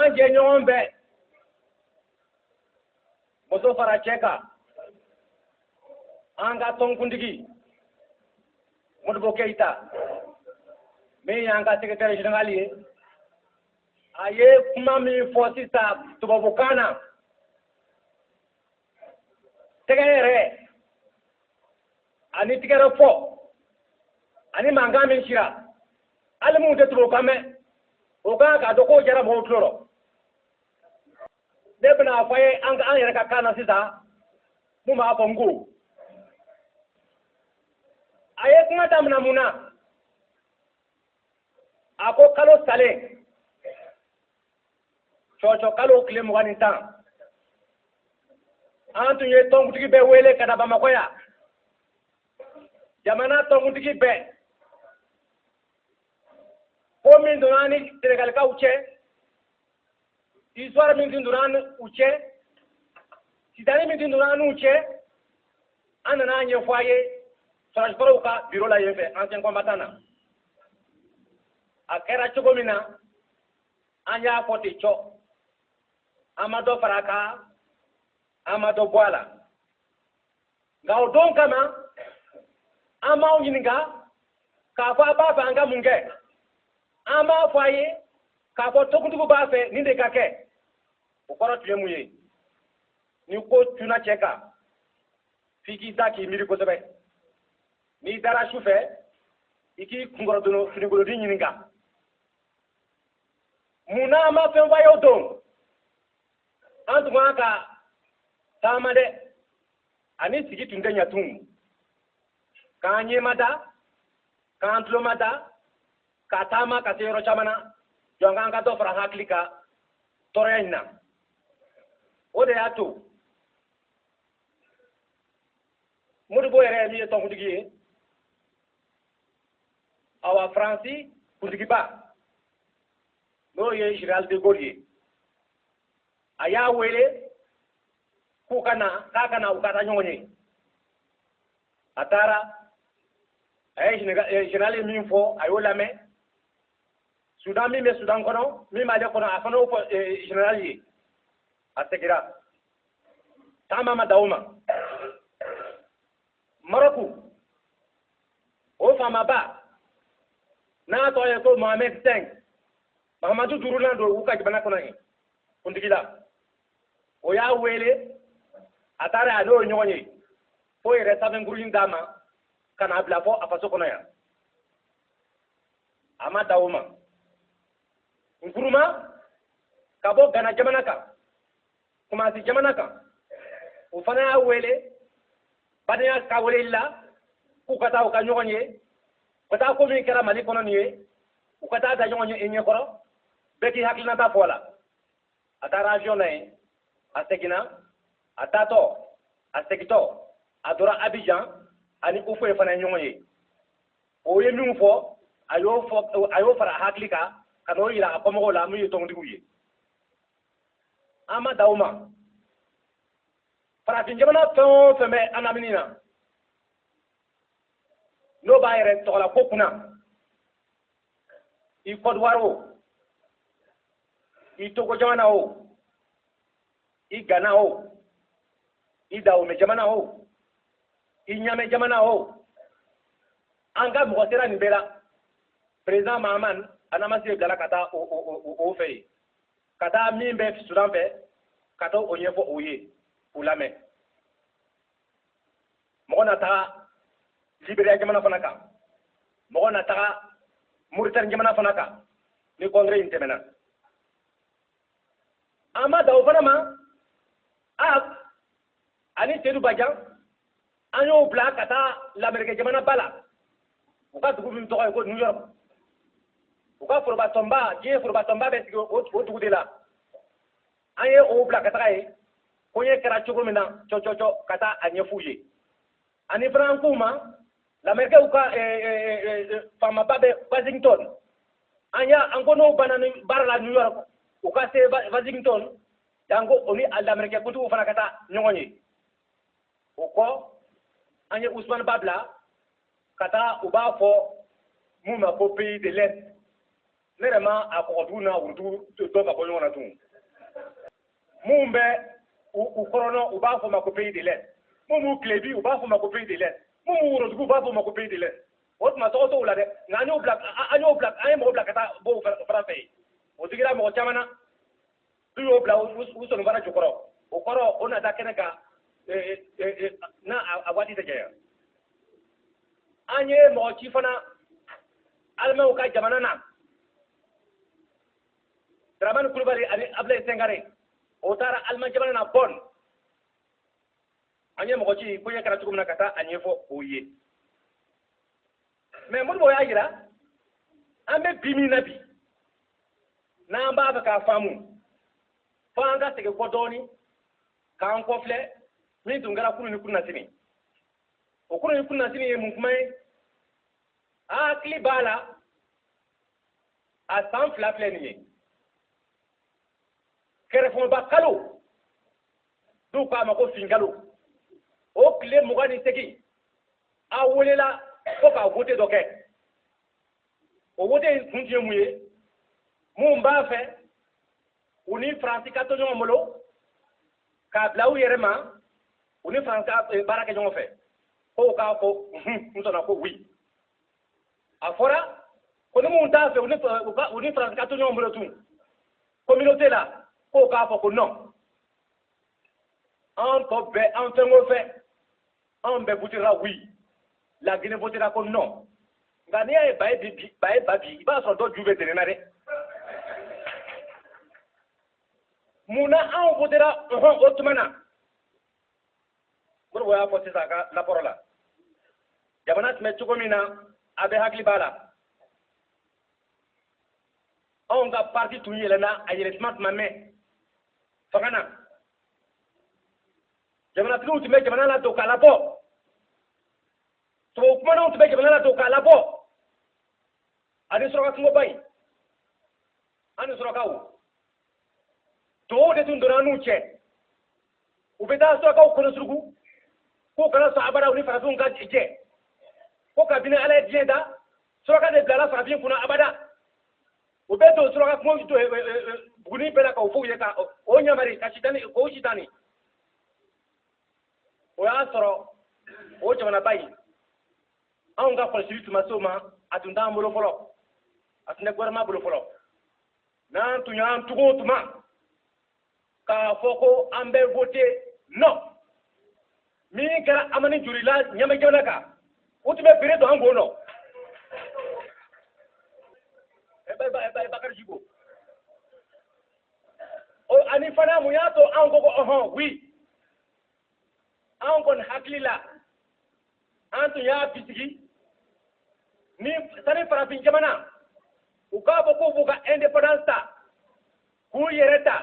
an jɛɲɔgɔn bɛɛ muso fara cɛ kan an ka tɔnkuntigi modibo keyita min y'an ka secrétaire général ye a ye kuma min fɔ sisan tubabukan na tɛgɛ yɛrɛ ani tɛgɛrɛ fɔ ani mankan min cira hali minnu tɛ tubabukan mɛn o kan k'a dɔn k'o jara mɔgɔw tulo rɔ ne bɛna a fɔ ye an yɛrɛ ka kan na sisan mun b'a fɔ n ko a ye kuma daminɛ mun na a ko kalo salen cɔcɔ kalo tile mugan ni tan an tun ye tɔnkutigi bɛɛ wele ka na bamakɔ yan jamana tɔnkutigi bɛɛ ko min donna an ni senegalikaw cɛ histoire min tun donna an n'u cɛ sitani min tun donna an n'u cɛ an nana a ɲɛfɔ a ye sɔrɔsikɔrɔw ka biro la yen fɛ ancien combattant na a kɛra cogo min na an y'a fɔ ten cɔ an ma dɔ fara a kan an ma dɔ bɔ a la nka o don kama an m'aw ɲininka k'a fɔ a b'a fɛ an ka mun kɛ an m'a fɔ a ye k'a fɔ tɔnkuntigiw b'a fɛ nin de ka kɛ o kɔrɔ tun ye mun ye ni ko cunna cɛ kan f'i k'i da k'i miiri kosɛbɛ n'i dara su fɛ i k'i kunkɔrɔdon finikolonnin ɲininka mun na an ma fɛn f'a ye o don an tun kan ka taama dɛ ani sigi tun tɛ ɲɛ tun k'an ɲɛmada k'an tulomada ka taama ka se yɔrɔ caman na jɔnk'an ka dɔ fara an hakili kan tɔɔrɔya in na o de y'a to modibo yɛrɛ ye min ye tɔnkuntigi ye awa faransi kuntigiba n'o ye général de gaulle ye a y'a wele k'u ka na k'a ka na u ka taa ɲɔgɔn ye a taara a ye général ye min fɔ a y'o lamɛn sudan min bɛ sudan kɔnɔ min b'ale kɔnɔ a fana y'o fɔ général ye a segira taama ma dan o ma mɔrɔku o faamaba n'a tɔgɔ ye ko mohamed cinq mahamadu duurunan don u ka jamana kɔnɔ yen kuntigi la o y'a wele a taara a n'o ye ɲɔgɔn ye fo yɛrɛ sanfɛnkuruni d'a ma ka n'a bila fo a faso kɔnɔ yan a ma dan o ma nkuruma ka bɔ gana jamana kan kumasi jamana kan o fana y'a wele badenya ka weleli la k'u ka taa u ka ɲɔgɔn ye u ka taa ko min kɛra mali kɔnɔ nin ye u ka taa da ɲɔgɔn ye i ɲɛkɔrɔ bɛɛ k'i hakilinata fɔ a la a taara avion na yen a seginna a taatɔ a segitɔ a dɔra abijan a ni houphouët fana ye ɲɔgɔn ye o ye min fɔ a ye a y'o fara a hakili kan ka n'o yira a kɔmɔgɔw la min ye tɔntigiw ye an ma dan o ma farafin jamana fɛn o fɛn bɛ an lamini na n'o b'a yɛrɛ tɔgɔla ko kunna i kɔdiwari o i togo jamana o i gana o i dawome jamana o i ɲame jamana o an ka mɔgɔ sera nin bɛɛ la président mahaman alassane bilala ka taa o fɛ yen ka taa min bɛ sudan fɛ ka taa o ɲɛfɔ u ye k'u lamɛn mɔgɔ na taga liberiya jamana fana kan mɔgɔ na taga muritani jamana fana kan ni congrès in tɛmɛna an ma dan o fana ma a ani sedu bajan an y'o bila ka taa lamerikɛ jamana ba la u ka dugu min tɔgɔ ye ko new york u ka forobatɔnba diɲɛ forobatɔnba bɛ sigi o dugu de la an ye o bila ka taga yen ko in kɛra cogo min na cɔcɔcɔ ka taa a ɲɛf'u ye ani fana an k'u ma lamerikɛw ka eh, eh, eh, faamaba bɛ washington an y'a an ko n'o banna nin baara la new york u ka se washington yen ko o ni lamerikɛ kuntigiw fana ka taa ɲɔgɔn ye o kɔ an ye usumani ba bila ka taa u b'a fɔ mun ma ko pays de l'est ne yɛrɛ ma a kɔgɔdugu n'a worodugu dɔn ka bɔ ɲɔgɔn na tun minnu bɛ u kɔrɔn u b'a fɔ ma ko pays de l'est minnu b'u tilebin u b'a fɔ ma ko pays de l'est minnu b'u worodugu u b'a fɔ ma ko pays de l'est o tuma tɔgɔ t'o la dɛ nka an ye mɔgɔ bila ka taa bɔ o fana fɛ yen o digira mɔgɔ caman na n'u y'o bila u sanbara jukɔrɔ o kɔrɔ o na da kɛnɛ kan na a waati tɛ janya an ye mɔgɔ ci fana alimanw ka jamana na daramani kulubali ani abulayi singare o taara aliman jamana na bɔn an ye mɔgɔ ci ko in kɛra cogo min na ka taa a ɲɛfɔ o ye mais modibo y'a jira an bɛ bi min na bi n'an b'a fɛ k'a faamu fo an ka segin kɔ dɔɔni k'an kɔ filɛ min tun kɛra kunu ni kunasini o kunu ni kunasini ye mun kuma ye a hakili b'a la a san fila filɛ nin ye kɛrɛfɛba kalo n'u k'a ma ko finkalo o tile mugan ni segin a welela ko ka wote dɔ kɛ o wote in kun tun ye mun ye min b'a fɛ u ni faransi ka to ɲɔgɔn bolo k'a bila u yɛrɛ ma u ni faransi ka eh, baara kɛ ɲɔgɔn fɛ k'o k'a fɔ n sɔnna ko oui a fɔra ko ni min t'a fɛ u ni faransi ka to ɲɔgɔn bolo tun communauté la k'o k'a fɔ ko non an tɔ bɛɛ an fɛn o fɛn anw bɛɛ votera oui la guinée votera ko non nka n'i y'a ye ba ye bi ba ye ba bin i b'a sɔrɔ dɔ ju bɛ dɛnɛn na dɛ mun na anw votera ɔhɔn o tuma na modibo y'a fɔ sisan a ka rapport la jamana tun bɛ cogo min na a bɛɛ hakili b'a la anw ka parti tun yɛlɛnna a yɛlɛntuma tun ma mɛn fanga na jamanatigiw tun bɛ jamana ladon k'a labɔ tubabu kumananw tun bɛ jamana ladon k'a labɔ ani suraka kungoba in an ni surakaw tubabuw de tun donna n'u cɛ u bɛ taa surakaw kɔnɔsuruku k'u kana sɔn abada u ni farafinw ka jɛ ko kabini ala ye diɲɛ da suraka de bilala farafin kunna abada u bɛ don suraka kungo buguni bɛɛ la k'o f'u ye ka o ɲamari ka sitani k'o sitani o y'a sɔrɔ o jamanaba in anw ka kɔlɔsili tun ma se o ma a tun t'an bolo fɔlɔ a tun tɛ gouvernement bolo fɔlɔ n'an tun y'an tugu o tuma k'a fɔ ko an bɛ voter non min kɛra amani jori la ɲamɛ jamana kan o tun bɛ bere don an kun nɔ bakari jibo ani fana mun y'a to anw ko ko ɔhɔn oui anw kɔni hakili la an tun y'a bisigi ni sani farafin jamanaw k'a fɔ k'u b'u ka indépendance ta k'u yɛrɛ ta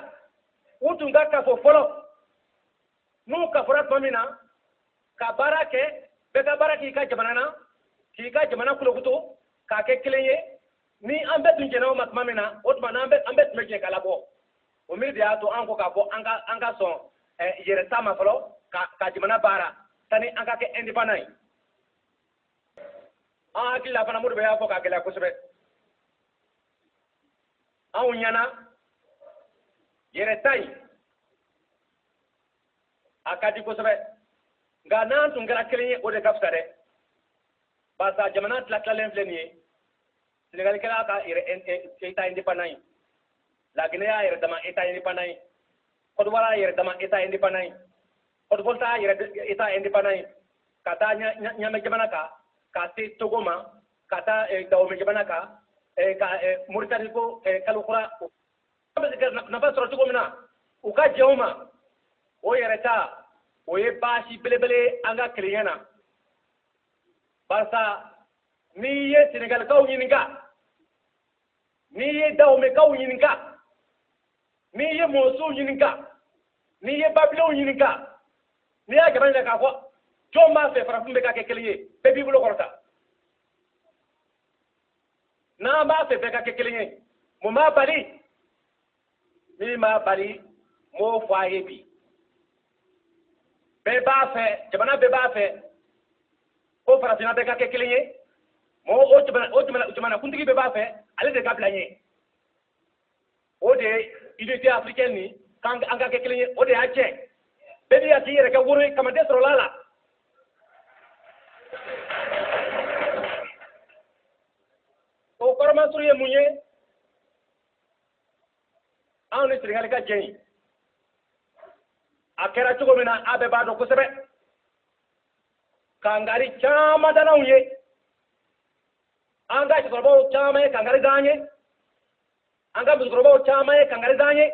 u tun ka kafo fɔlɔ n'u kafora tuma min na ka baara kɛ bɛɛ ka baara k'i ka jamana na k'i ka jamana kulukutu k'a kɛ kelen ye ni an bɛɛ tun jɛnna o ma tuma min na o tuma n'an bɛ an bɛɛ tun bɛ jɛ k'a labɔ o miiri de y'a to an ko k'a fɔ an ka an ka sɔn yɛrɛ ta ma fɔlɔ ka ka jamana baara sani an ka kɛ indépendant ye an hakili la fana Modibo y'a fɔ k'a gɛlɛya kosɛbɛ anw ɲɛna yɛrɛ ta in a ka di kosɛbɛ nka n'an tun kɛra kelen ye o de ka fisa dɛ barisa jamana tilatilalen filɛ nin ye senegali kɛra ka yɛrɛ état indépendant ye laginɛ y'a yɛrɛ dama état indépendant ye kɔdiwari y'a yɛrɛ dama état indépendant ye Haute-Volta y'a yɛrɛ état indépendant ye ka taa ɲamɛ jamana kan ka se togo ma ka taa dawome jamana kan ka moritani ko kalo kura nafa sɔrɔ cogo min na u ka jɛn o ma o yɛrɛ ta o ye baasi belebele an ka kelenya na barisa n'i ye senegalikaw ɲininka n'i ye dawomekaw ɲininka n'i ye mɔsiw ɲininka n'i ye babilenw ɲininka n'i y'a jama ɲininka k'a fɔ jɔn b'a fɛ farafin bɛɛ ka kɛ kelen ye bɛɛ b'i bolo kɔrɔta n'an b'a fɛ bɛɛ ka kɛ kelen ye mun b'a bali min b'a bali n b'o fɔ a ye bi bɛɛ b'a fɛ jamana bɛɛ b'a fɛ ko farafinna bɛɛ ka kɛ kelen ye mɔgɔ o jamana o jamana jamanakuntigi bɛɛ b'a fɛ ale de ka bila ɲɛ o de ye unité africaine nin k'an an ka kɛ kelen ye o de y'a tiɲɛ bɛɛ b'i ka k'i yɛrɛ kɛ woro ye kaman tɛ sɔrɔla a la o kɔrɔ masurun ye mun ye anw ni senegali ka jɛn a kɛra cogo min na a bɛɛ b'a dɔn kosɛbɛ kangari caman dala anw ye an ka cɛkɔrɔbaw caman ye kangari da an ye an ka musokɔrɔbaw caman ye kangari da an ye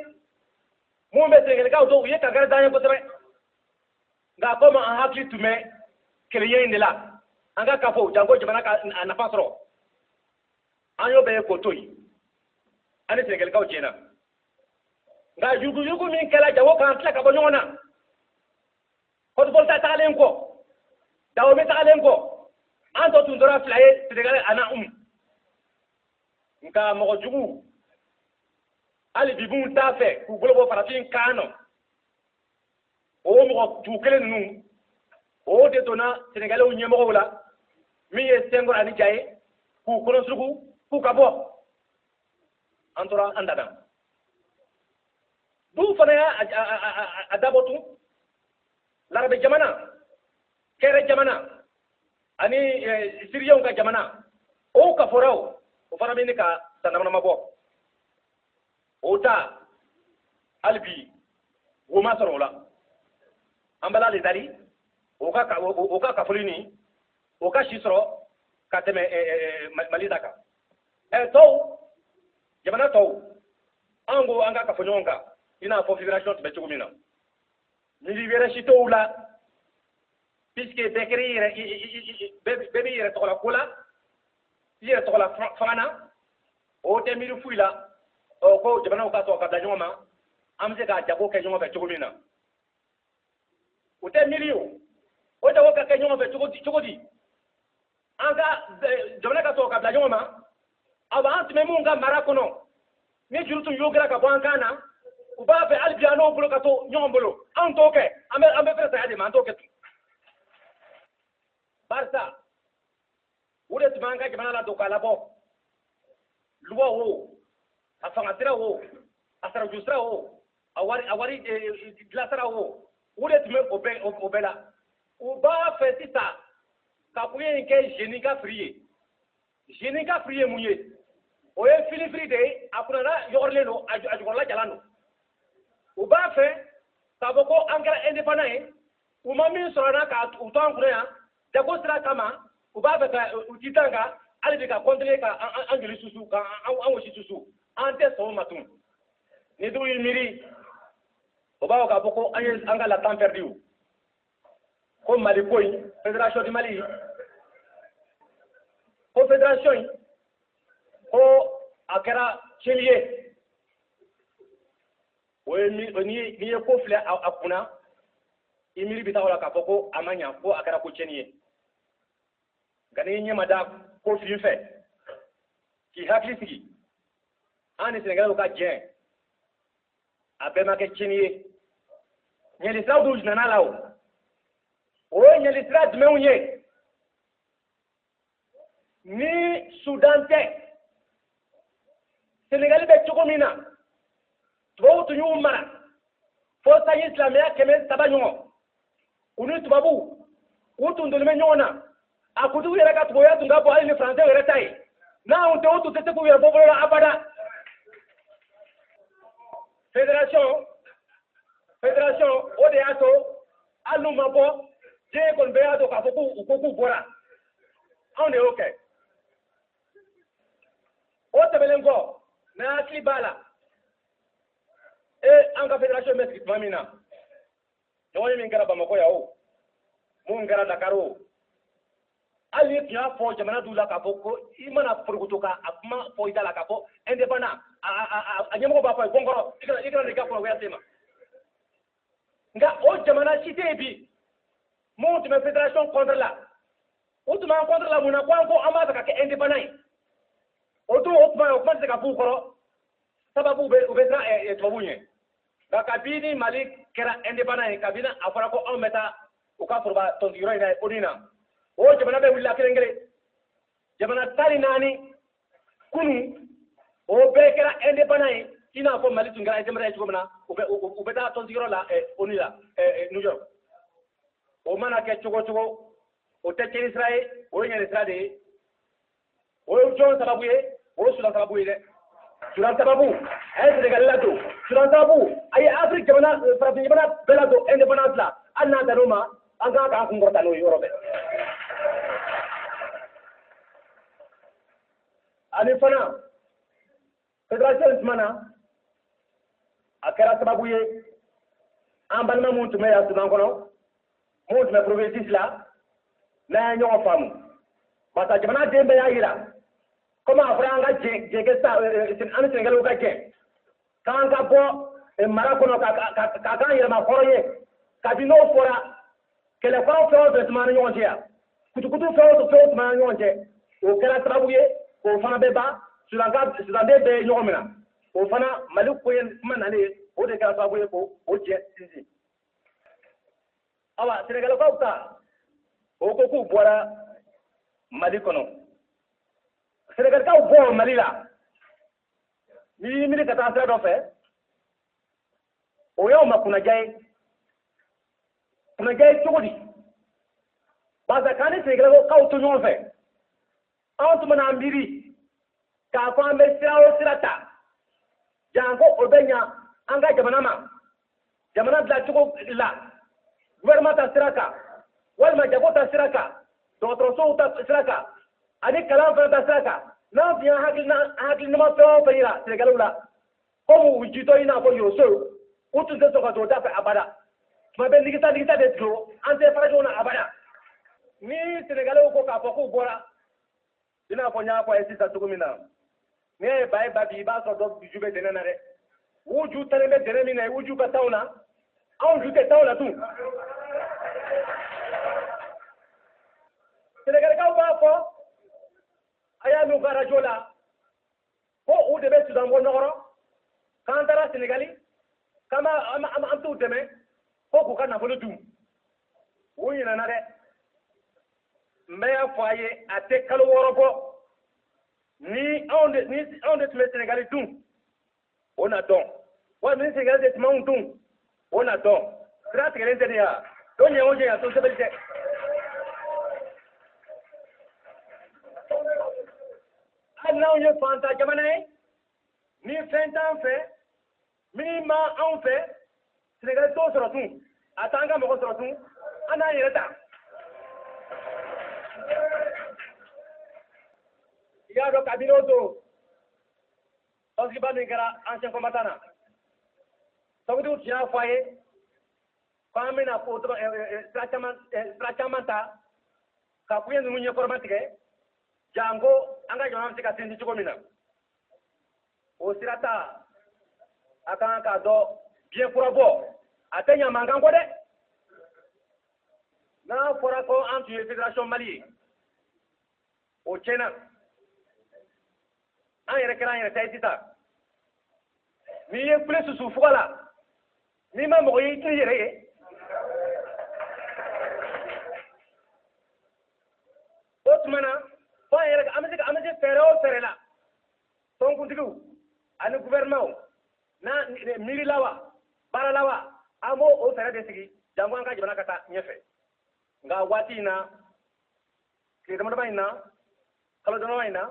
minnu bɛ senegalikaw dɔn u ye kangari da an ye kosɛbɛ nka komi an hakili tun bɛ kelenya in de la an ka kafo janko jamana ka a nafa sɔrɔ an y'o bɛɛ ye k'o to yen an ni sɛnɛgalikaw jɛna nka yuruguyurugu min kɛra janko k'an tila ka bɔ ɲɔgɔn na haute-volta tagalen kɔ dahomey tagalen kɔ an tɔ tun tora fila ye sɛnɛgali ani anw nka mɔgɔ jugu hali bi minnu t'a fɛ k'u bolo bɔ farafin kan nɔ o mɔgɔ jugu kelen ninnu o de donna sɛnɛgalɛw ɲɛmɔgɔw la min ye senghor ani dia ye k'u kɔnɔsuruku k'u ka bɔ an tora an dan na dɔw fana y'a dabɔ tun larabu jamana caire jamana ani eh, siriyaw ka jamana o kafora o fana bɛ ɲini ka san damadama bɔ o ta hali bi wo ma sɔrɔ o la an b'ala le dari o ka o ka kafoli nin o ka si sɔrɔ ka tɛmɛ mali ta kan ɛ tɔw jamana tɔw an ko an ka kafo ɲɔgɔn kan i n'a fɔ federation tun bɛ cogo min na miiri wɛrɛ si t'ow la puisque bɛɛ kɛra i yɛrɛ bɛɛ b'i yɛrɛ tɔgɔla ko la i yɛrɛ tɔgɔla fanga na o tɛ miiri foyi la ɔ ko jamanaw ka sɔgɔ ka bila ɲɔgɔn ma an bɛ se ka jago kɛ ɲɔgɔn fɛ cogo min na o tɛ miiri o o jago ka kɛ ɲɔgɔn fɛ cogo di cogo di an ka jamana ka sɔgɔ ka bila ɲɔgɔn ma aba an tun bɛ minnu ka mara kɔnɔ ni juru tun yɔgɔra ka bɔ an kan na u b'a fɛ hali bi an n'o bolo ka to ɲɔgɔn bolo anw t'o kɛ an bɛ an bɛ fɛrɛ saya de ma an t'o kɛ tun barisa u de tun b'an ka jamana ladon k'a labɔ luwa wo a fanga sira wo a saraju sira wo a wari a wari dilan sira wo u de tun bɛ o bɛɛ o bɛɛ la u b'a fɛ sisan ka pays in kɛ jeni ka firi ye jeni ka firi ye mun ye o ye filifiri de ye a kunnana yɔgɔrilen don a jukɔrɔla jalan don u b'a fɛ k'a fɔ ko an kɛra indépendant ye u ma min sɔrɔ an na ka u to an kunna yan jago sira kama u b'a fɛ ka u tintin an kan hali bi ka kɔntine ka an joli susu ka an wosi susu an tɛ sɔn o ma tun ni dɔw y'i miiri u b'a fɔ k'a fɔ ko an ye an ka le temps pɛridi ko mali ko in federation du mali ko federation in ko a kɛra tiɲɛli ye o ye n'i ye ko filɛ a kunna i miiri bɛ taa o la k'a fɔ ko a ma ɲa ko a kɛra ko tiɲɛni ye nka n'i ɲɛ mada ko fin fɛ k'i hakili sigi an ni sɛnɛgalɛw ka jɛn a bɛɛ ma kɛ tiɲɛni ye ɲɛlisiraw dun nana a la o o ye ɲɛlisira jumɛnw ye ni sudan tɛ senegali bɛ cogo min na tubabu tun y'u mara fo sanji silamɛya kɛmɛ saba ɲɔgɔn u ni tubabu u tun donnen bɛ ɲɔgɔn na a ko dɔw yɛrɛ ka tubabuya tun ka bon hali ni faransɛ yɛrɛ ta ye n'anw tɛ u tun tɛ se k'u yɛrɛ bɔ bolo la abada federation federation o de y'a to hali n'u ma bɔ diɲɛ kɔnɔ bɛɛ y'a dɔn k'a fɔ ko u ko k'u bɔra anw de y'o kɛ o tɛmɛnen kɔ n'an hakili b'a la e an ka federation bɛ sigi tuma min na ɲɔgɔnye min kɛra bamakɔ yan o min kɛra dakar o hali n'i tun y'a fɔ jamana dɔw la k'a fɔ ko i mana porokoto ka a kuma fɔ i da la k'a fɔ indépendant a ɲɛmɔgɔ b'a fɔ a ye ko n kɔrɔ i kana i kana n'i ka kunnagoya se n ma nka o jamana si tɛ yen bi minnu tun bɛ federation contre la u tun b'an contre la mun na ko an ko an b'a fɛ ka kɛ indépendant ye o don o tuma o kuma tɛ se ka f'u kɔrɔ sababu u bɛ u bɛ siran eh, eh, tubabuw ɲɛ nka kabini mali kɛra indépendant ye kabini a fɔra ko anw bɛ taa u ka foroba tɔnsigiyɔrɔ in na ONU na o jamana bɛɛ wulila kelen kelen jamana tan ni naani kunun o bɛɛ kɛra indépendant ye i n'a fɔ mali tun kɛra indépendant ye cogo min na u bɛ taa tɔnsigiyɔrɔ la eh, onu la eh, eh, new york o mana kɛ cogo o cogo o tɛ tiɲɛni sira ye o ye ɲɛni sira de ye o ye jɔn sababu ye o ye sudan sababu ye dɛ sudan sababu a ye senegali ladon sudan sababu a ye afiriki jamana farafin jamana bɛɛ ladon indépendance la hali n'a dan'o ma an kan k'an kun kɔrɔta n'o ye yɔrɔ bɛɛ ani fana federation tuma na a kɛra sababu ye an balima minnu tun bɛ yan sudan kɔnɔ minnu tun bɛ provinces la n'an ye ɲɔgɔn faamu barisa jamanaden bɛɛ y'a jira komi a fɔra an ka jɛ eh, sa an ni senegali ka jɛ k'an ka bɔ eh, mara kɔnɔ ka k'an yɛrɛmahɔrɔn ye kabi n'o fɔra kɛlɛkɔrɔ fɛn o fɛn tun b'an ni ɲɔgɔn cɛ yan kutukutu fɛn o fɛn tun b'an ni ɲɔgɔn cɛ o kɛra sababu ye k'o fana bɛɛ ban sudanden bɛɛ ye ɲɔgɔn minɛ o fana mali ko ye kuma nalen ye o de kɛra sababu ye ka o jɛ sinsin awa senegalakaw ta u ko k'u bɔra mali kɔnɔ senegalakaw bɔ mali la n'i y'i miiri ka taa sira dɔ fɛ o y'anw ma kunnaja ye kunnaja ye cogo di barisa k'an ni senegalakaw ka to ɲɔgɔn fɛ anw tun mana miiri k'a fɔ an bɛ sira o sira ta janko o bɛ ɲa an ka jamana ma jamana dilacogo la gouvernement ta sira kan walima jago ta sira kan dɔgɔtɔrɔsow ta sira kan ani kalan fana ta sira kan n'an tun ye hakilinama fɛn o fɛn yira senegali la komi u jitɔ i n'a fɔ yosow u tun tɛ sɔn ka don da fɛ abada tuma bɛɛ nigisa nigisa de don an tɛ fara ɲɔgɔn na abada ni sénégalais ko k'a fɔ k'u bɔra i n'a fɔ n y'a fɔ a ye sisan cogo min na n'i ye ba ye ba bi i b'a sɔrɔ dɔ ju bɛ dɛnɛ na dɛ u ju dalen bɛ dɛnɛ min na u ju ka da o na anw ju tɛ da o la tun sɛnɛgalikaw b'a fɔ a y'a mɛn u ka arajo la ko u de bɛ sudan bɔ nɔgɔ rɔ k'an taara senegali k'an ma t'u dɛmɛ ko k'u ka nafolo dun u ɲinɛna dɛ n bɛ y'a fɔ a ye a tɛ kalo wɔɔrɔ bɔ ni anw de ni anw de tun bɛ senegali dun o na dɔn wa ni sɛnɛgali de tun b'anw dun o na dɔn sira tigɛlen tɛ de ya o ɲɛ o ɲɛ ya to sɛbɛli tɛ hali n'anw ye fantan jamana ye ni fɛn t'an fɛ min bɛ anw fɛ sɛnɛgali t'o sɔrɔ tun a t'an ka mɔgɔ sɔrɔ tun an n'an yɛrɛ ta i y'a dɔn kabini o don Tɔnsigiba min kɛra ancien combattant na tɔnkuntigiw tun y'a fɔ a ye ko an bɛna ko sira caman ta ka koɲɛ ninnu ɲɛkɔrɔma tigɛ janko an ka jamana bɛ se ka sinsin cogo min na o sira ta a kan k'a dɔn biɲɛ kura bɔ a tɛ ɲa mankan kɔ dɛ n'a fɔra ko an tun ye fédération mali ye o tiɲɛna an yɛrɛ kɛra an yɛrɛ ta ye sisan n'i ye kule susu fuga la n'i ma mɔgɔ ye i t'i yɛrɛ ye o tuma na fo an yɛrɛ an bɛ se an bɛ se fɛɛrɛ o fɛɛrɛ la tɔnkuntigiw ani gouvernement n'a miiri la wa baara la wa an b'o o fɛɛrɛ de sigi janko an ka jamana ka taa ɲɛfɛ nka waati in na tile damadama in na kalo dama in na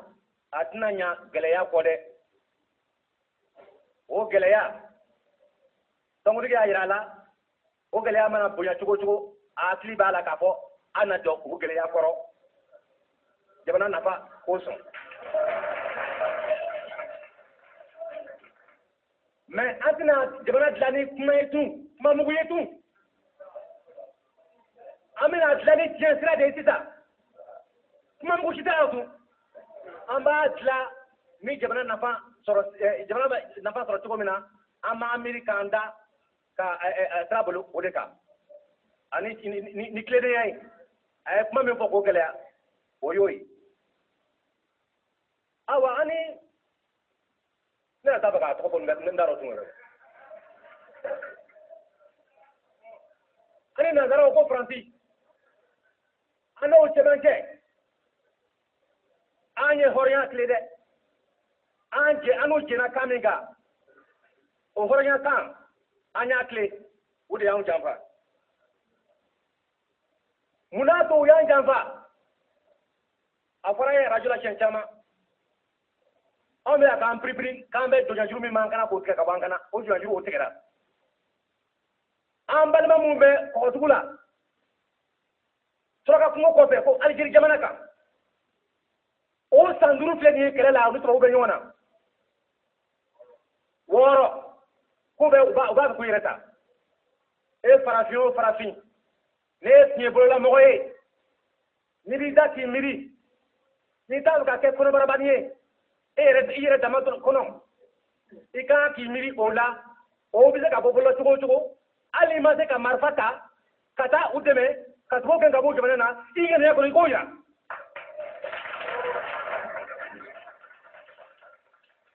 a tɛna ɲa gɛlɛya kɔ dɛ o gɛlɛya tɔnkuntigi y'a jira a la o gɛlɛya mana bonya cogo cogo a hakili b'a la k'a fɔ an na jɔ o gɛlɛya kɔrɔ jamana nafa kosɔn mɛ an tɛna jamana dilan ni kuma ye tun kuma mugu ye tun an bɛna dilan ni tiɲɛ sira de ye sisan kuma mugu si t'a la tun an b'a dilan ni jamana nafa sɔrɔ eh, jamana bɛ nafa sɔrɔ cogo min na an b'an miiri k'an da ka eh, eh, sira bolo o de kan ani ni tilennenya ye a ye kuma min fɔ k'o gɛlɛya o y'o ye awa ani ne yɛrɛ t'a fɛ k'a tɔgɔ fɔ ne t'a dɔn tun yɛrɛ an ni nanzaraw ko faransi an n'o cɛmancɛ an ye hɔrɔnya tilen dɛ an jɛ an n'o jɛnna kan min kan o hɔrɔnya kan an y'a tilen o de y'anw janfa mun n'a to u y'an janfa a fɔra ye arajo la siɲɛ caman anw bɛ k'an piripiri k'an bɛ jɔnyajuru min b'an kan na k'o tigɛ ka bɔ an kan na o jɔnyajuru o tigɛra an balima minnu bɛ kɔgɔdugu la suraka kungo kɔfɛ ko alijeri jamana kan o san duuru filɛ nin ye kɛlɛ la olu tubabu bɛ ɲɔgɔn na wɔɔrɔ k'u bɛ u b'a u b'a fɛ k'u yɛrɛ ta e farafin o farafin n'e ye fiɲɛbololamɔgɔ ye n'i b'i da k'i miiri n'i t'a fɛ ka kɛ kɔnɔbarabani ye e yɛrɛ i yɛrɛ dama kɔnɔ i ka kan k'i miiri o la o bɛ se ka bɔ bolo cogo o cogo hali n'i ma se ka marifa ta ka taa u dɛmɛ ka tubabu gɛn ka bɔ jamana na i ŋaniya kɔnɔ i k'o yira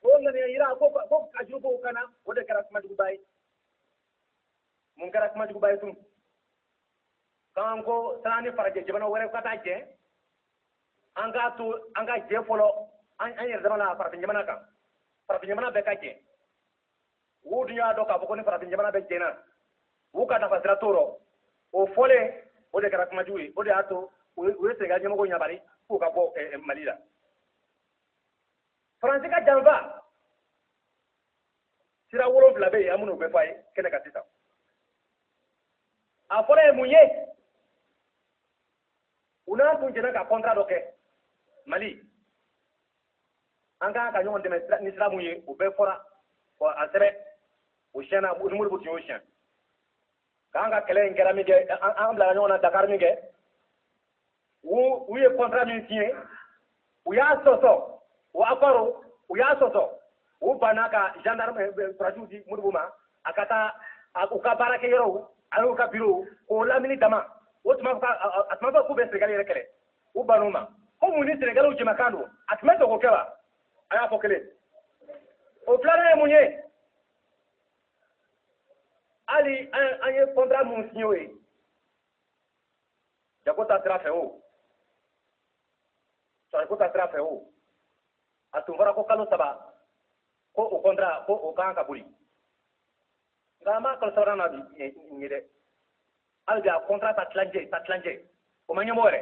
o ŋaniya yira ko ko a juru b'o kan na o de kɛra kuma juguba ye mun kɛra kuma juguba ye tun k'an ko san'an ni farajɛ jamana wɛrɛ ka taa jɛ an k'a to an ka jɛ fɔlɔ an yɛrɛ dama na farafin jamana kan farafin jamana bɛɛ ka jɛ u dun y'a dɔn k'a fɔ ko ni farafin jamana bɛɛ jɛnna u ka nafa sira t'o rɔ o fɔlen o de kɛra kumajugu ye o de y'a to u ye senegal ɲɛmɔgɔw ɲabari k'u ka bɔ eh, eh, mali la faransi ka janfa sira wolonwula bɛ yen an b'olu bɛɛ fɔ a ye kɛnɛ kan sisan a fɔlɔ ye mun ye u n'an tun jɛnna ka kɔntra dɔ kɛ mali an kan ka ɲɔgɔn dɛmɛ ni sira mun ye o bɛɛ fɔra a sɛbɛn o siyɛnna ni modibo tun y'o siyɛn k'an ka kɛlɛ in kɛra min kɛ an bila ɲɔgɔn na dakari min kɛ u ye kɔntra min siɲɛ u y'a sɔsɔ u accord u y'a sɔsɔ u banna ka gendarme eh, eh, sɔrɔdasiw di modibo ma a ka taa u ka baarakɛ yɔrɔw ani u ka biro k'o lamini dama o tuma a tun ma fɔ k'u bɛ senegali yɛrɛ kɛlɛ u bann'o ma ko mun ni senegaliw jɛmakan don a tun ma dogo kɛ wa a y'a fɔ kelen o filanan ye mun ye hali an ye kɔntra minnu siɲɛ o ye jago ta sira fɛ o sɔrɔko ta sira fɛ o a tun fɔra ko kalo saba ko o kɔntra ko o kan ka boli nka an b'a kalo sabanan na bi nin ye dɛ hali bi a kɔntra ta tilancɛ ta tilancɛ o ma ɲɛnabɔ yɛrɛ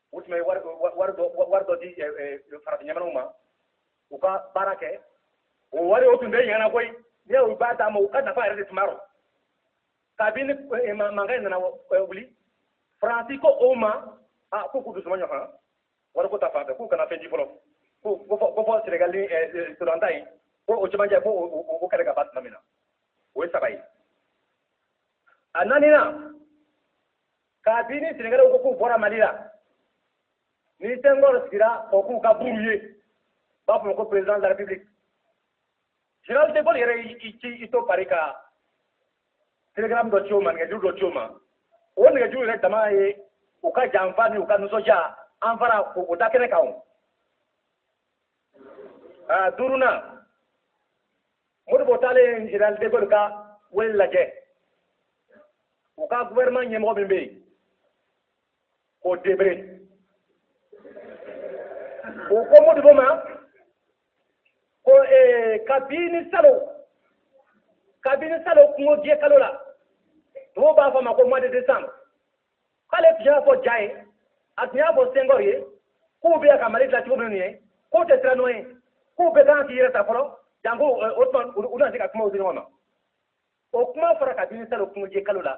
u tun bɛ wari wari dɔ wari dɔ di farafin jamanaw ma u ka baara kɛ o wari o tun tɛ ɲɛna koyi ni u b'a d'an ma u ka nafa yɛrɛ de tun b'a rɔ kabini mankan in nana wuli faransi ko o ma a ko k'u dusuma ɲɔgɔn wari ko ta fan fɛ k'u kana fɛn di fɔlɔ ko fɔ senegali ni sudan ta in ko o cɛmancɛ ko o kɛlɛ ka ban tuma min na o ye saba ye a naaninan kabini senegali ko k'u bɔra mali la ni senghor sigira o k'u ka buru ye b'a fɔ ko président de la république général de gaulle yɛrɛ y'i to pari ka telegram dɔ ci o ma nɛgɛjuru dɔ ci o ma o nɛgɛjuru yɛrɛ dama ye u ka janfa ni u ka nisɔndiya an fara o da kɛnɛ kan o duurunan modibo taalen general de Gaulle ka wele lajɛ u ka gouvernement ɲɛmɔgɔ min bɛ yen ko debré o ko modibo ma ko eh, kabini salo kabini salo kungo jeni kalo la tubabu b'a fɔ a ma ko mois de décembre k'ale tun y'a fɔ dia ye a tun y'a fɔ senghor ye k'u bɛ ka mali dilan cogo min ye k'u tɛ siran n'o ye k'u bɛɛ kan k'i yɛrɛ ta fɔlɔ janko o tuma u na se ka kumaw di ɲɔgɔn ma o kuma fɔra kabini salo kungo jeni kalo la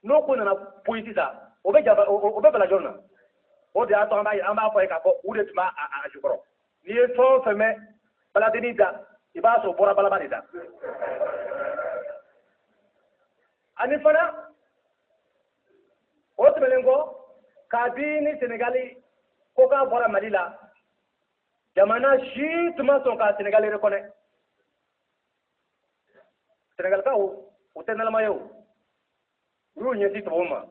n'o ko nana poyi sisan o bɛ bala jɔn na o de y'a to an b'a an b'a fɔ ye k'a fɔ u de tun b'a a jukɔrɔ n'i ye fɛn o fɛn mɛn baladenni da i b'a sɔrɔ bɔra balaba de da ani fana o tɛmɛnen kɔ kabini senegali ko k'a bɔra mali la jamana si tun ma sɔn ka senegali rekɔnɛ senegalikaw u tɛ naloma ye o u y'u ɲɛsin tubabu ma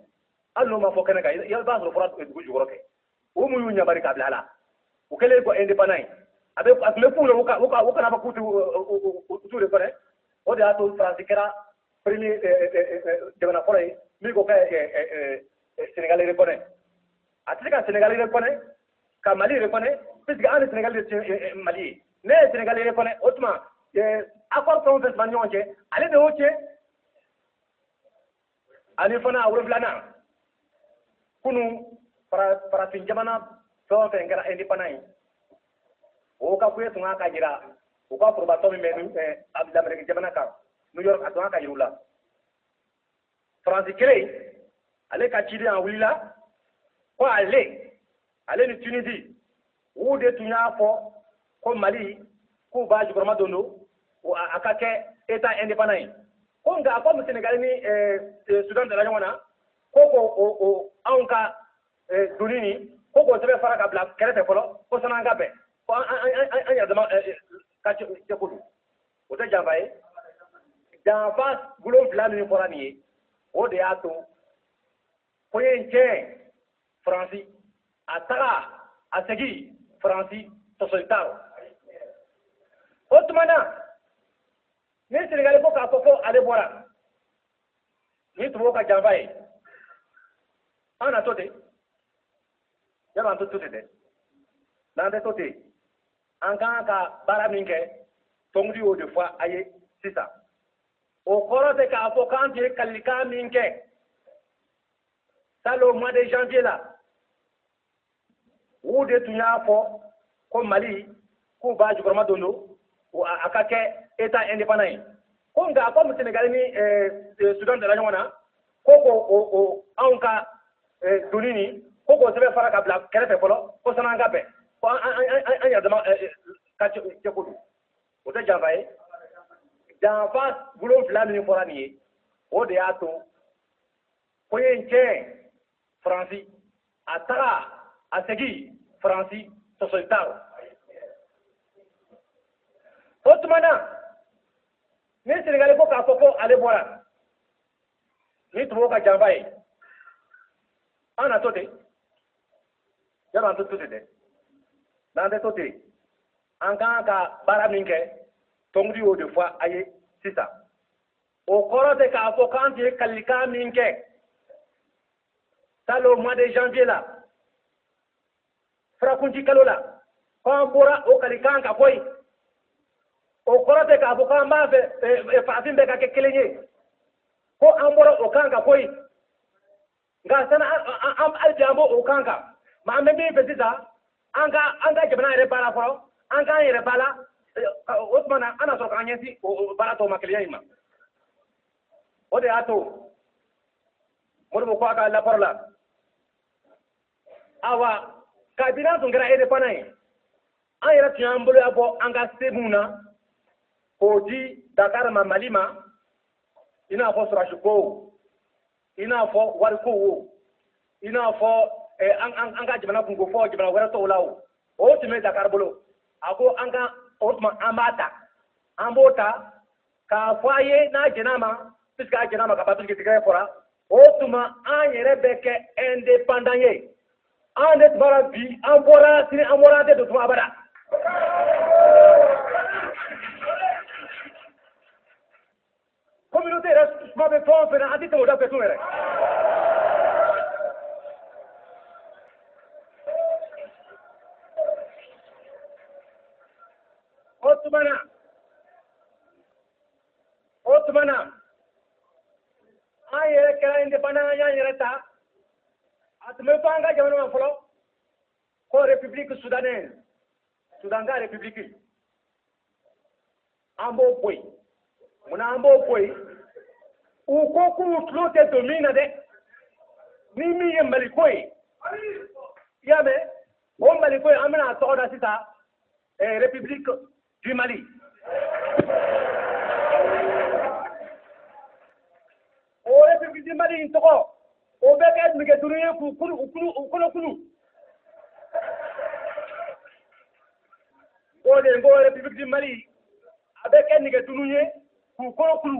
hali n'o ma fɔ kɛnɛ kan i b'a sɔrɔ fɔra dugu jukɔrɔ kɛ u mun y'u ɲabari ka bila a la u kɛlen kɔ indépendant ye a bɛ a tun bɛ k'u la u kana ban k'u t'u rekɔnɛ o de y'a to faransi kɛra premier jamana fɔlɔ ye min ko ka senegali rekɔnɛ a tɛ se ka senegali rekɔnɛ ka mali rekɔnɛ puisque an ni senegali de mali ye n'a ye senegali rekɔnɛ o tuma accord fɛn o fɛn tun b'an ni ɲɔgɔn cɛ ale de y'o tiɲɛ ani fana a wolonfilanan kunu farafin jamana fɛn o fɛn kɛra indépendant ye o ka kuye tun kan ka jira u ka forobatɔn min bɛ lameriki jamana kan new york a tun kan ka yira u la faransi kelen ale ka ciden a wulila ko ale ale ni tunisi u de tun y'a fɔ ko mali k'u b'a jukɔrɔma don don a ka kɛ eta indépendant ye ko nka comme senegali ni eh, eh, sudan dala ɲɔgɔn na ko ko anw ka eh, doni ni ko k'o sɛbɛn fara ka bila kɛrɛfɛ fɔlɔ ko san'an ka bɛn ko an yɛrɛ dama ka cɛ ko don o tɛ janfa ye janfa wolonfila min fɔra nin ye o de y'a to ko ye n tiɲɛ faransi a taga a segin faransi sɔsɔli t'a rɔ o tuma na ni senegali ko k'a fɔ ko ale bɔra ni tubabu ka janfa ye an na to ten yala an tɛ to ten dɛ n'an tɛ to ten an ka kan ka baara min kɛ tɔnkuntigi y'o de fɔ a ye sisan o kɔrɔ tɛ k'a fɔ k'an tun ye kalikan min kɛ salon mois de janvier la u de tun y'a fɔ ko mali k'u b'a jukɔrɔma don don a ka kɛ eta indépendant ye ko nka comme senegali ni eh, eh, sudan dala ɲɔgɔn na ko ko o o anw ka eh, doni ni ko k'o sɛbɛn fara ka bila kɛrɛfɛ fɔlɔ ko sani an ka bɛn ko an an an an yɛrɛ dama eh, eh, ka cɛ cɛ ko don o tɛ janfa ye janfa wolonfila min fɔra nin ye o de y'a to ko ye n tiɲɛ faransi a taga a segin faransi sɔsɔli t'a rɔ o tuma na ni senegali ko k'a fɔ ko ale bɔra ni tubabu ka janfa ye an na to ten yala an tɛ to ten dɛ n'an tɛ to ten an ka kan ka baara min kɛ tɔnkuntigi y'o de fɔ a ye sisan o kɔrɔ tɛ k'a fɔ k'an tun ye kalikan min kɛ salon mois de janvier la furakunci kalo la ko an bɔra o kalikan kan koyi o kɔrɔ tɛ k'a fɔ k'an b'a fɛ eh, eh, farafin bɛɛ ka kɛ kelen ye ko an bɔra o kan kan koyi nka sani hali bi an b'o o kan kan mɛ an bɛ min fɛ sisan an ka an ka jamana yɛrɛ baara fɔlɔ an k'an yɛrɛ baara eh, o tuma na an na sɔrɔ k'an ɲɛsin o baara tɔw ma kelenya in ma o de y'a to modibo ko a ka lapɔrɔ la awa kabini an tun kɛra indépendant ye an yɛrɛ tun y'an boloya bɔ an ka se minw na k'o di dakar ma mali ma i n'a fɔ sɔrɔdasikow i n'a fɔ warikow wo i n'a fɔ eh, an ka jamana kunko fɔ jamana wɛrɛ tɔw la o o tun bɛ dakar bolo a ko an ka o tuma an b'a ta an b'o ta k'a fɔ a ye n'a jɛn'a ma puisque a jɛn'a ma ka ban puisque tigɛ fɔra o tuma an yɛrɛ bɛ kɛ indépendant ye an de tuma na bi an bɔra sini an bɔra an tɛ don tuma abada communauté yɛrɛ kuma bɛ fɛn o fɛn na an tɛ tɛmɛ o da fɛ tun yɛrɛ o tuma na o tuma na an yɛrɛ kɛra indépendant an y'an yɛrɛ ta a tun bɛ fɔ an ka jamana ma fɔlɔ ko république soudanaise Soudan ka république an b'o bɔ yen munna an b'o bɔ yen u ko k'u tulo tɛ don min na dɛ ni min ye maliko ye i y'a mɛn o maliko ye an bɛna a tɔgɔ da sisan et République du Mali. O République du Mali in tɔgɔ, o bɛ kɛ nɛgɛ duuru ye k'u kulu, u kulu, u kolo kulu. O de ko République du Mali, a bɛ kɛ nɛgɛ duuru ye k'u kolo kulu.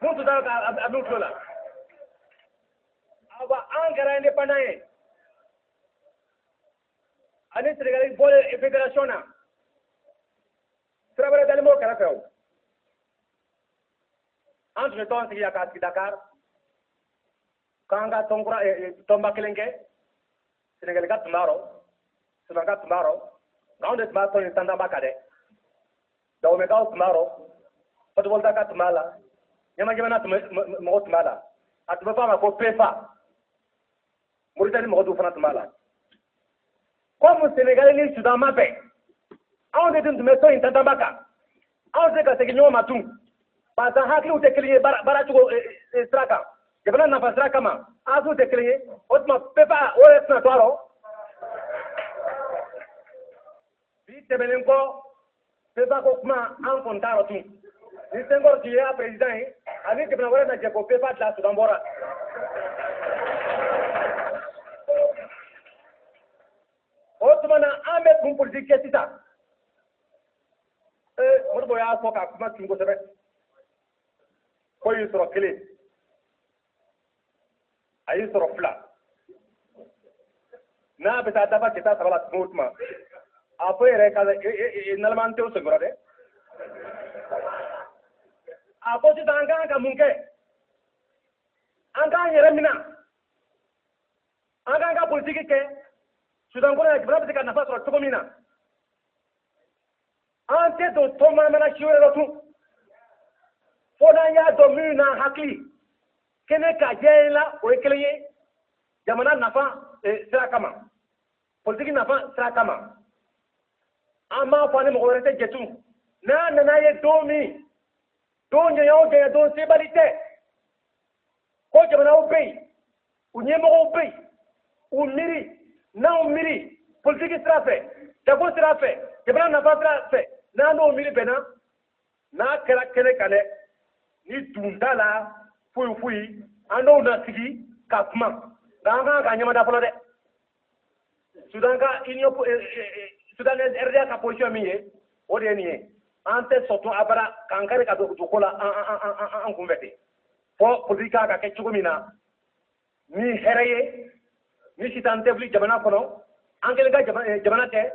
Mun tun t'a ka a b'u tulo la. Awa an kɛra indépendant ye. ani senegali bɔlen federation na sira wɛrɛ dalen b'o kɛrɛfɛ o an tun bɛ tɔn sigi yan k'a sigi dakar k'an ka tɔn kura tɔnba kelen kɛ senegali ka tun b'a rɔ sudan ka tun b'a rɔ nka anw de tun b'a tɔn in tantanba kan dɛ dawomɛkaw tun b'a rɔ haute-volta ka tun b'a la ɲamɛ jamana mɔgɔ tun b'a la a tun bɛ fɔ a ma ko pefa moritani mɔgɔ dɔw fana tun b'a la kɔmu senegali ni sudan ma bɛn anw de tun tun bɛ tɔn in tantanba kan anw tɛ se ka segin ɲɔgɔn ma tun parce que hakiliw tɛ kelen ye baara cogo eh, eh, eh, sira kan jamana nafa sira kama hakiliw tɛ kelen ye o tuma pfa o yɛrɛ tɛna to a rɔ bi tɛmɛnen kɔ pfa ko kuma an kɔni t'a rɔ tun ni senghor tun ye a peresidan ye ani jamana wɛrɛ na jɛ ko pfa dila sudan bɔra o tuma na an bɛ mun politiki kɛ sisan ee modibo y'a fɔ ka kuma tun kosɛbɛ ko y'i sɔrɔ kelen a y'i sɔrɔ fila n'a bɛ taa dafa k'i ta saba la tuma o tuma a fɔ yɛrɛ ka naloma tɛ sen kɔrɔ dɛ a ko sisan an kan ka mun kɛ an k'an yɛrɛ minɛ an k'an ka politiki kɛ sudan kɔnɔ yan jamana bɛ se ka nafa sɔrɔ cogo min na an tɛ don tɔn manamana si wɛrɛ la tun fo n'an y'a dɔn minnu n'an hakili kɛnɛ kan jɛ la o ye kelen ye jamana nafa e, sira kama politiki nafa sira kama an m'a fɔ an ni mɔgɔ wɛrɛ tɛ jɛ tun n'a nana ye don min don janya o janya don sebali tɛ ko jamanaw bɛ yen u ɲɛmɔgɔw bɛ yen u miiri n'anw miiri politiki sira fɛ jago sira fɛ jamana nafa sira fɛ n'an n'o miiri bɛnna n'a kɛra kɛnɛ kan dɛ ni dun t'a la foyi foyi an n'o na sigi ka kuma nka an kan ka ɲɛmada fɔlɔ dɛ sudan ka union eh, eh, eh, sudan rda ka position min ye o de ye nin ye an tɛ sɔn tun abada k'an kari ka don ko la an kunfɛ ten fo politiki kan ka kɛ cogo min na ni hɛrɛ ye ni sitan tɛ wuli jamana kɔnɔ an kelen ka eh, jamana tɛ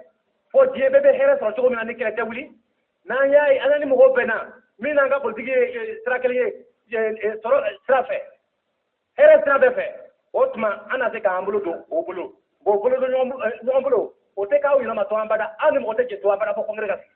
fo diɲɛ bɛɛ bɛ hɛrɛ sɔrɔ cogo min na ni kɛlɛ tɛ wuli n'an y'a ye an ni mɔgɔw bɛnna min n'an ka politiki ye eh, sira kelen ye eh, sɔrɔ sira fɛ hɛrɛ sira bɛɛ fɛ o tuma an na se k'an bolo don o bolo an bolo don ɲɔgɔn bolo o tɛ k'aw yɛlɛma tun abada an ni mɔgɔ tɛ jɛ tun abada fo congrès ka sigi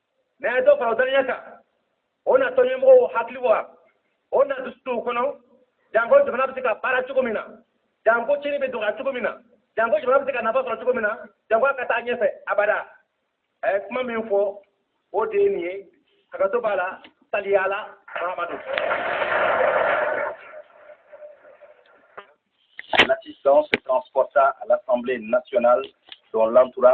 mɛ a ye dɔ fara o dannaya kan o na tɔnɲɛmɔgɔw hakili wa o na dusu don u kɔnɔ janko jamana bɛ se ka baara cogo min na janko cɛnni bɛ dɔgɔya cogo min na janko jamana bɛ se ka nafa sɔrɔ cogo min na janko a ka taa ɲɛfɛ abada a ye kuma min fɔ o de ye nin ye hakɛto b'a la sali ala mahamadu L'assistance se transporta à l'Assemblée nationale dont l'entourage